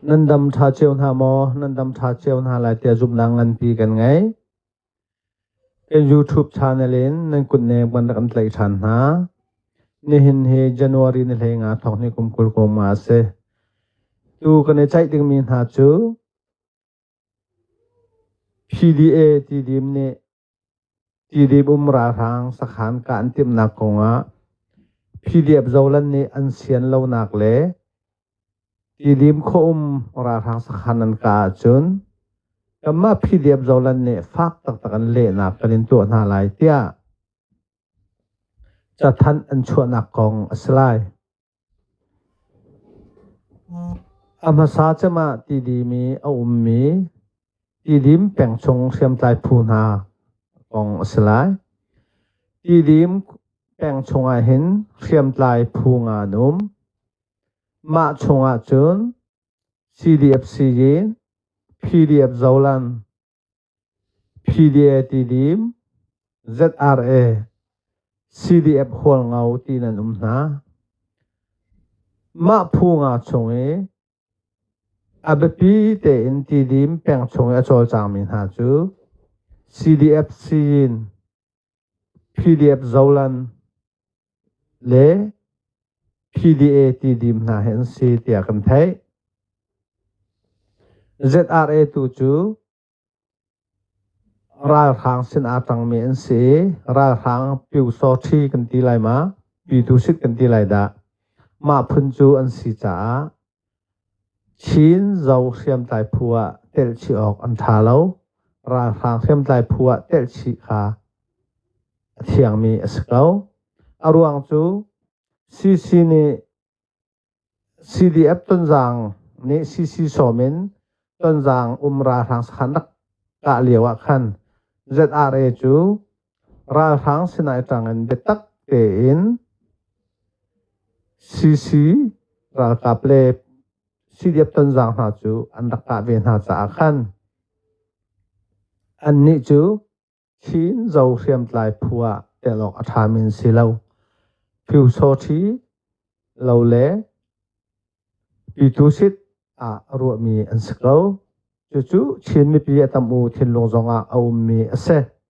Nan dam ṭha cio hna maw? Nan dam ṭha cio hna lai tiah zumhnak nganpi kan ngei. Kan YouTube channel in nan kutnem kan rak kan tlaih ṭhan hna. Nihin hi January ni hlei nga thawk ni kum kul koma a si. Tu kan i ceih dingmi hna cu PDA tidim nih Tidip um ralhrang sakhan kah an timhnak kongah phi-liap zolan nih an sian lonak le Tidim khua um ralhrang sakhan an kah ahcun kanmah phi-liap zolan nih fak taktak an lehnak kan in tuah hna lai tiah cathanh an chuahnak kong a si lai. A hmasa cem ah tidimi a ummi tidim peng chung hriamtlai phu hna kong a si lai. Tidim peng chungah hin hriamtlai phu nga an um. Mah chungah cun CDF Syin, PDF Zoland, PDA tidim ZRA CDF hualngo ti nan um hna. Mah phu nga chung i a biapi tein tidim peng chung i a cawlcangmi hna cu CDF Syin PDF zolan le PDA tidim hna hi an si tiah kan theih. ZRA tu cu ralhrang sin aa tangmi an si i ralhrang Pyusawṭhi kan ti lai ma, Pyu Tusit kan ti lai dah. Mah phun cu an si caah Chin Zo hriamtlai phu ah telhchih awk an ṭha lo. Ralhrang hriamtlai phu ah telhchih kha a thiangmi a si ko. A ruang cu CC nih CDF Tonzang nih CC sawm in Tonzang um ralhrang sakhan rak kah lio ah khan ZRA cu Ralhrang sinai tangin biatak tein CC ralkap le CDF tonzang hna cu an rak kah ve hna caah khan annih cu Chin Zo hriamtlai phu ah tel awk a ṭhami an si lo. Phyusawṭhi lo le Pyitusit ah ruahmi an si ko. Cucu Chin mipi a tam u thinlung zongah a ummi a si.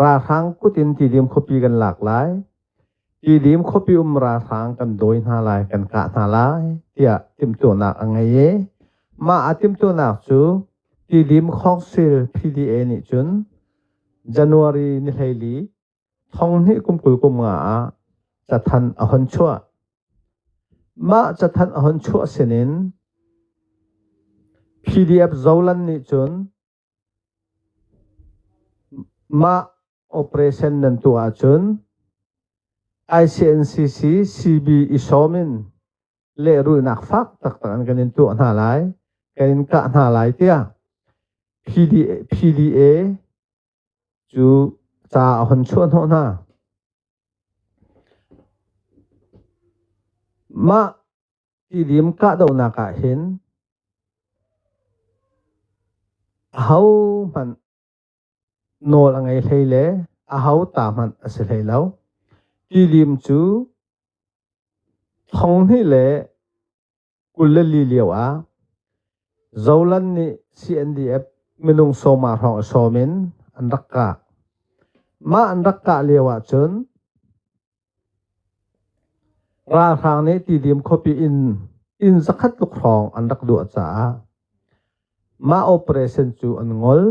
Ralhrang kut in Tidim khuapi kan lak lai. Tidim khuapi um ralhrang kan dawi hna lai, kan kah hna lai, tiah timtuahnak a ngei i mah a timtuahnak cu Tidim Khawngsil PDA nih cun January ni hleili thonghni kum kul kum nga ah cathan a hon chuah. Mah cathan a hon chuah sinin PDF Zolan nih cun Mah operation nan tuah ahcun ICNCC CB i sawm in lehrulhnak fak taktak in kan in tuah hna lai, kan in kah hna lai tiah PDA cu ca a hun chuahhnawh hna. Mah Tidim kahdohnak ah hin ahohmanh nawl a ngei hlei le aho ta hmanh a si hlei lo. Tidim cu thonghnih le kul le li lio ah Zoland nih CNDF minung sawma hrawng a sawm in an rak kah. Mah an rak kah lio ahcun Ralhrang nih Tidim khuapi in inn zakhat tluk hrawng an rak luah caah mah operation cu an ngol.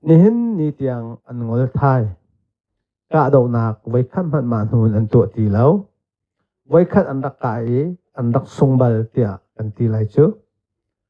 Nihin ni tiang an ngol thai. Kahdohnak voikhat hmanh mah hnu in an tuah ti lo. Voikhat an rak kai i an rak sung bal tiah kan ti lai cu.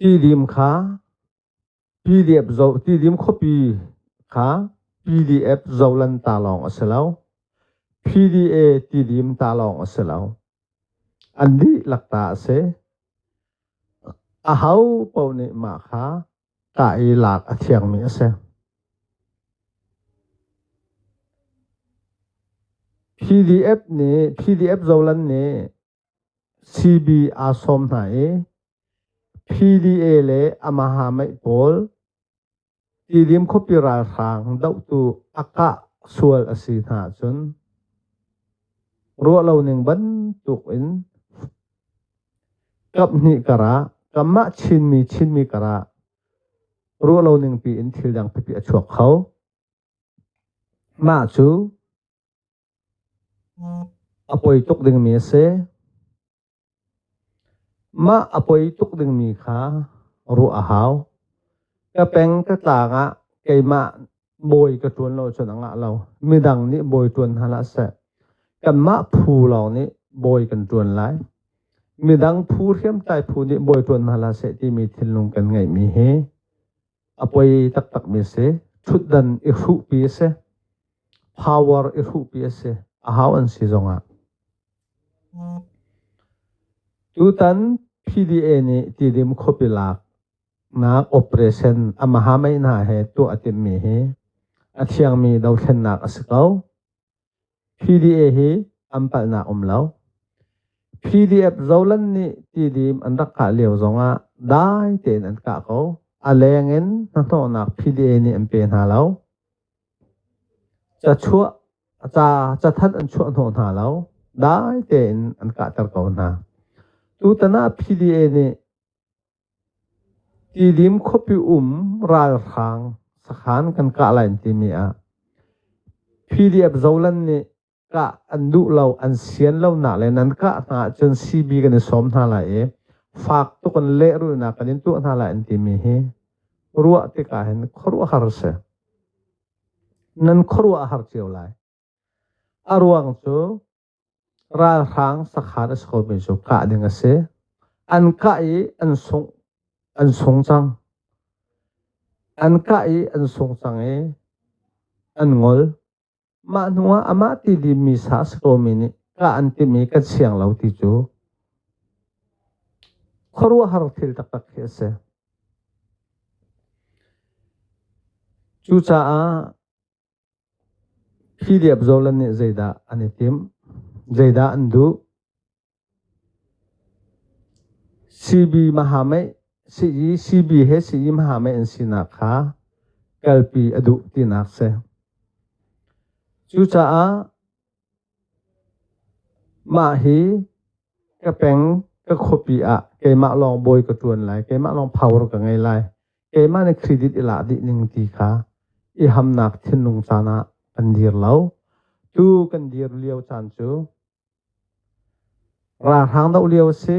Tidim kha PDF zoh tidim khuapi kha PDF zohlan ta lawng a si lo. PDA tidim ta lawng a si lo. An dihlak ta a si. A ho paoh nih mah kha Ṭah i lak a thiangmi a si. PDF nih PDF zolan nih CB aa sawm hna i PDA le Amaha Mei pawl Tidim khuapi ralhrang dohtu a kah sual a si hna ahcun ruah lo ning bantuk in Kap hnih kar ah, kanmah Chinmi Chinmi kar ah ruah lo ning piin thil dang pipi a chuak kho. Mah cu a poi tuk dingmi a si. Mah a poi tuk dingmi kha ruah a hau. Ka peng ka tlang ah keimah Bawi ka ṭuan lo cun a ngah lo. Midang nih bawi ṭuan hna hlah seh. Kanmah phu lawng nih bawi kan ṭuan lai. Midang phu hriamtlai phu nih bawi ṭuan hna hlah seh timi thinlung kan ngeihmi hi a poi taktakmi a si. Ṭhutdan i hruhpi a si. Power i hruhpi a si. A hau an si zongah. Tutan PDA nih tidim khuapi lak nak operation amahamei hna he tuah a timmi hi a thiangmi dothlennak a si ko. PDA hi an palhnak um lo. PDF zolan nih tidim an rak kah lio zongah dai tein an kah ko. A lengin hnahnawhnak PDA nih an pe hna lo. Ca chuah ca ca that an chuah hnawh hna lo. Dai tein an kahter ko hna. Tutan ah PDA nih Tidim khuapi um ralhrang sakhan kan kah lai an timi ah PDF Zoland nih kah an duh lo, an sian lonak le nan kah hna ahcun CB kan i sawm hna lai i fak tuk in lehrulnak kan in tuah hna lai an timi hi ruah tikah hin khuaruahhar a si. Nan khuaruah a har cio lai. A ruang cu Ralhrang sakhan a si khomi cu kah ding a si. An kah i an sung an sung cang. An kah i an sung cang i an ngol. Mah hnuah amah ti dimi sa a si komi nih kah an timh i kan siang lo ti cu khuaruahhar thil taktak khi a si. Cucaah Hi diapzawl nih zeidah an i timh? Zeidah an duh? CB mahameih sii CB he sii mahameih an sinak kha kalpi a duh tinak si. Cucaah Mah hi ka peng ka khuapi ah keimah lawng bawi ka ṭuan lai, keimah lawng power ka ngei lai. Keimah nih credit i lak dih ning ti kha i hamnak thinlung caan ah kan dir lo. Tu kan dir lio caan cu ralhrang doh lio a si.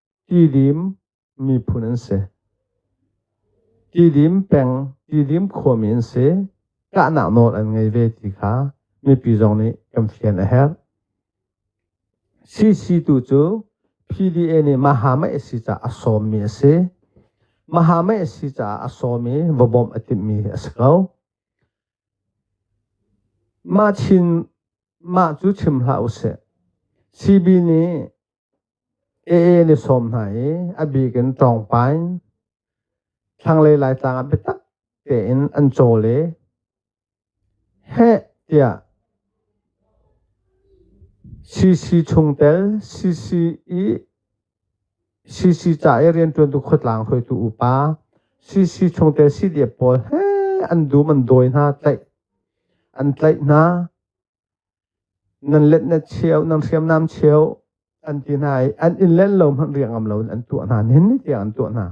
Tidim peng Tidim khuami an si. Kahnak nawl an ngei ve ti kha mipi zong nih kan fian a herh. CC tu cu PDA nih Mahama si caah a sawmmi a si. Mahama si caah a sawmi va bawmh a timmi a si ko. Mah chin mah cu chim hlah usih. CB nih Aa an i sawm hna i a bik in ṭawngpain thlanglei Laitlang ah biatak tein an cawl i heh tiah CC chungtel CC i CC ca i rianṭuantu khuatlang hruaitu upa CC chungtel CDF pawl heh an dum an dawi hna tlaih an tlaih hna. nan let net cheu nan hriamnam cheu an ti hna i an in len lo hmanh riangam lo in an tuah hna hin tiang an tuah hna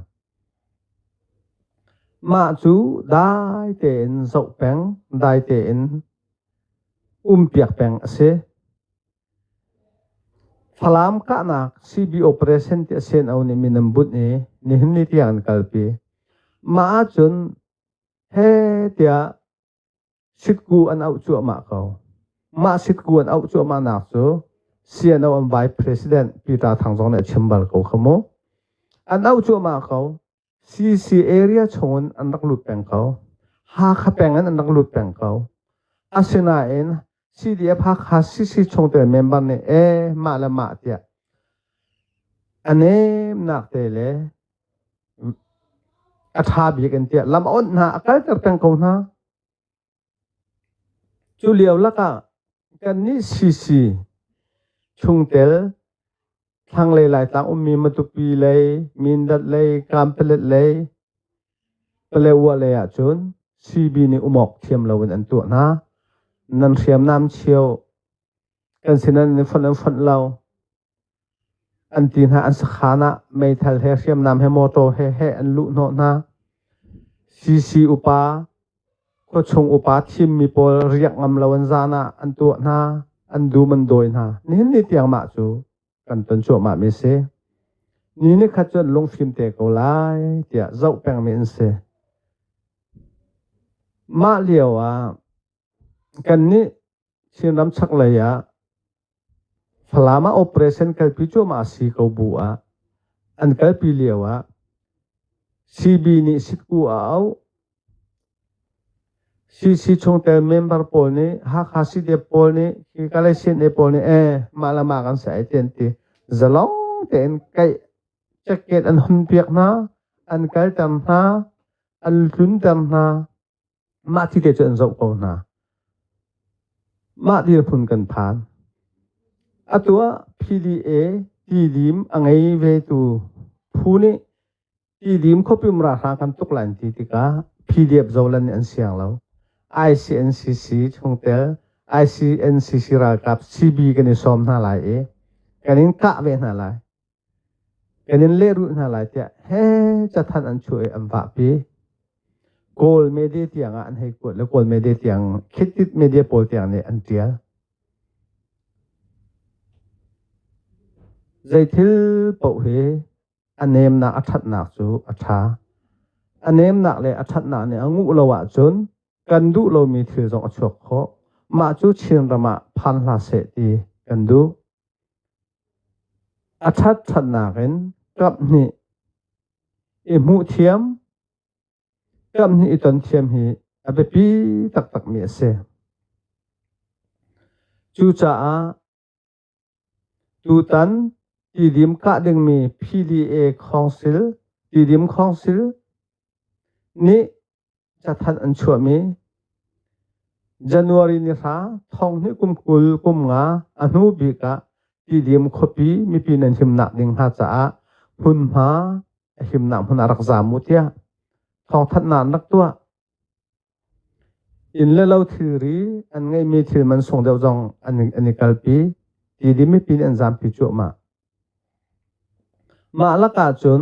mah cu dai tein zoh peng dai tein umpiak peng a si Falam kahnak CB operation ti asen au ni minam but ni ni hin ni tiang an kalpi ma ahcun he tiah Sitkuu an auh cuahmah ko. Mah sitkuu an auh cuahmahnak cu CNO an Vice President Peter Thang zong nih a chim bal ko kha mu. An auh cuahmah ko. CC area chungin an rak lut peng ko. Hakha peng in an rak lut peng ko. Asinain CDF Hakha CC chungtel member nih e mah le mah tiah a nemnak te le a ṭha bik in tiah lam awnh hna a kalter peng ko hna. Cu lio lakah kannih CC chungtel Thlanglei Laitlang ummi Matupi lei Mindat lei Kampalet lei Paletwa lei ahcun CB nih umawk thiam loin an tuah hna. Nan hriamnam chio kan sinan in fonh an fonh lo an ti hna an sakhan ah meithal he hriamnam he motor he he an luh hnawh hna. CC upa Khuachung upa thimmi pawl riak ngam lo in zan ah an tuah hna, an dum an dawi hna. Nihin ni tiang mah cu kan ton cuahmahmi a si. Ni nikhat cun lunghrim te ko lai tiah zoh pengmi an si. Mah lio ah kannih Chinram chaklei ah Falam ah operation kalpi cuahmah a si ko bu ah an kalpi lio ah CB nih sitku a auh CC chungtel member pawl nih Hakha CDF pawl nih hi Kalay CNA pawl nih eh mah le mah kan sai ti an ti zalong tein kaih jacket an hun piak hna an kalter hna an hlunter hna Mah thite cu an zoh ko hna. Mah dirphun kan phan. Atu ah PDA tidim a ngei vetu phu nih tidim khuapim ralhrang kan tuk lai an ti tikah PDF zolan nih an siang lo. ICNCC chungtel ICNCC ralkap CB kan i sawm hna lai i kan in kah ve hna lai. Ka nin lehrulh hna lai tiah he cathanh an chuah i an vahpi. Kawl media tiangah an hei kuat le Kawl media tiang, Khittit media pawl tiang nih an ṭial. Zeithil paoh hi a nemnak a ṭhatnak cu a ṭha. A nemnak le a ṭhatnak nih a nguh lo ahcun kan duh lomi thil zong a chuak khawh. Mah cu Chinram ah phan hlah seh ti kan duh. A ṭhatṭhatnak in ṭap hnih i hmuh thiam, ṭap hnih i ton thiam hi a biapi taktakmi a si. Cucaah tutan tidim kah dingmi Pili-e Council, Tidim Council, nih cathanh an chuahmi January ni hra thonghni kum kul kum nga a hnu bik ah Tidim khuapi mipi nan himnak ding hna caah hmunhma a himnak hmun ah rak zaam mu tiah thawngthanhnak rak tuah in le lo thilri an ngeihmi thil man sung deuh zong an an i kalpi ti di mipi nih an zaampi cuah mah mah lakah cun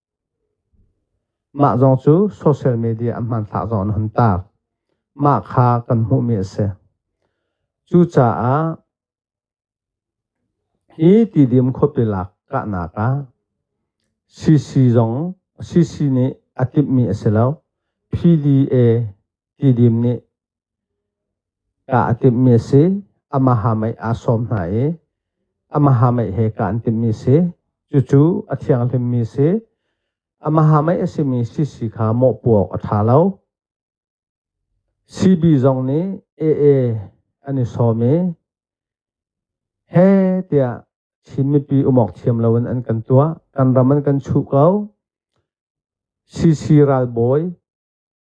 Mah zong cu social media a hmanthlak zong an hun taak. Mah kha kan hmuhmi a si. Cucaah hi tidim khuapilak kahnak ah CC zong CC nih a timhmi a si lo. PDA tidim nih Kaa a timhmi a si. Amaha mei aa sawm hna i amaha mei he kaa an timhmi a si. Cucu a thianghlimmi a si. Amaha mei a simi sisi kha mawhpuak a ṭha lo. CB zong nih AA an i sawm i he tiah Chin mipi umawk thiam loin an kan tuah. Kan ram an kan chuh ko. CC ralbawi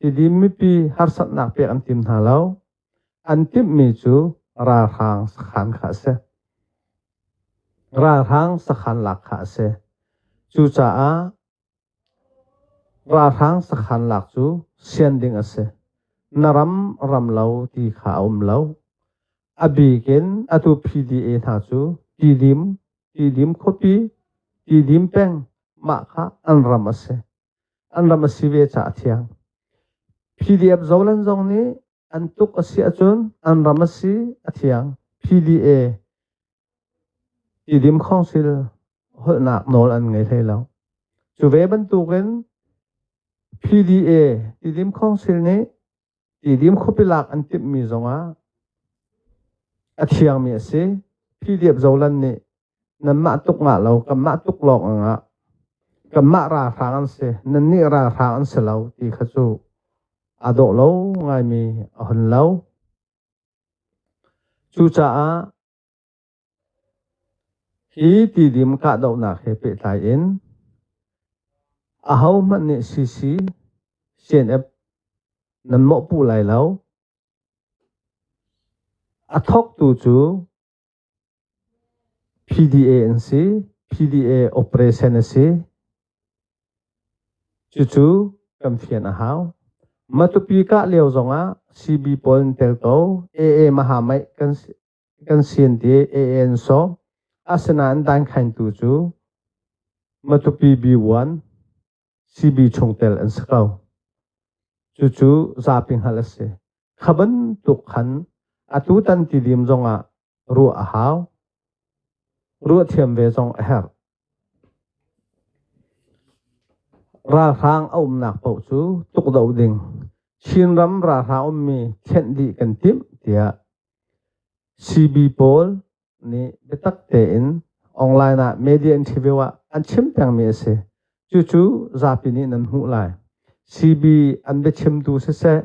Tidim mipi harsatnak pek an tim hna lo. An timhmi cu ralhrang sakhan kha a si. Ralhrang sakhan lak kha a si. Cucaah ralhrang sakhan lak cu sian ding a si. Na ram ram lo ti kha a um lo. A bik in atu PDA hna cu Tidim, Tidim khuapi, Tidim peng mah kha an ram a si. an ram a si ve caah thiang. PDF zolan zong nih an tuk a si ahcun an ram a si a thiang. PDA Tidim Council holhnak nawl an ngei hlei lo. Cu ve bantukin PDA Tidim Council nih Tidim khuapi lak an timhmi zongah a thiangmi a si. Philiap Zolan nih nanmah tuk ngah lo kanmah tuk lawng angah kanmah ralhrang an si nannih ralhrang an si lo ti kha cu a dawh lo ngaimi a hun lo. Cucaah Hi tidim kahdohnak he pehtlai in ahohmanh nih CC, CNF nan mawhpuh lai lo. A thawktu cu PDA an si. PDA operation a si. Cucu kan fian a hau. Matupi kah lio zongah CB pawl an tel ko. AA Mahamaih kan si. kan sin te AN so asinain dan khaintu cu Matupi B1 CB chungtel an si ko cucu zapi hngal a si kha bantuk khan atu tan ti dim zongah ruah a hau ruah thiam ve zong a herh ralhrang a umnak paoh cu tuk do ding Chinram ralhrang ummi thenh dih kan timh tiah Simi pawl nih biatak tein online ah media interview ah an chim pengmi a si. Cucu zapi nih nan hmuh lai. CB an biachimtu siseh,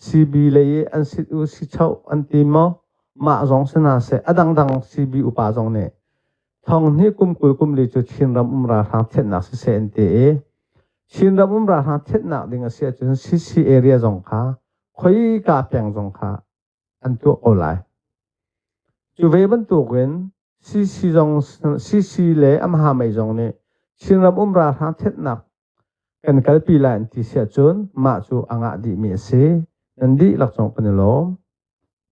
CB lei i an sit u si choh an ti maw, mah zong si hna seh, a dangdang CB upa zong nih thonghni kum kul kum li cu Chinram um ralhrang thianhnak siseh an ti i Chinram um ralhrang thianhnak ding a si ahcun CC area zong kha khoika peng zong kha an tuah ko lai. Cu ve bantukin CC zong CC le Amha mei zong nih Chinram um ralhrang thetnak kan kalpi lai an ti siah cun mah cu a ngah dihmi a si. Nan dihlak zong kan i lawm.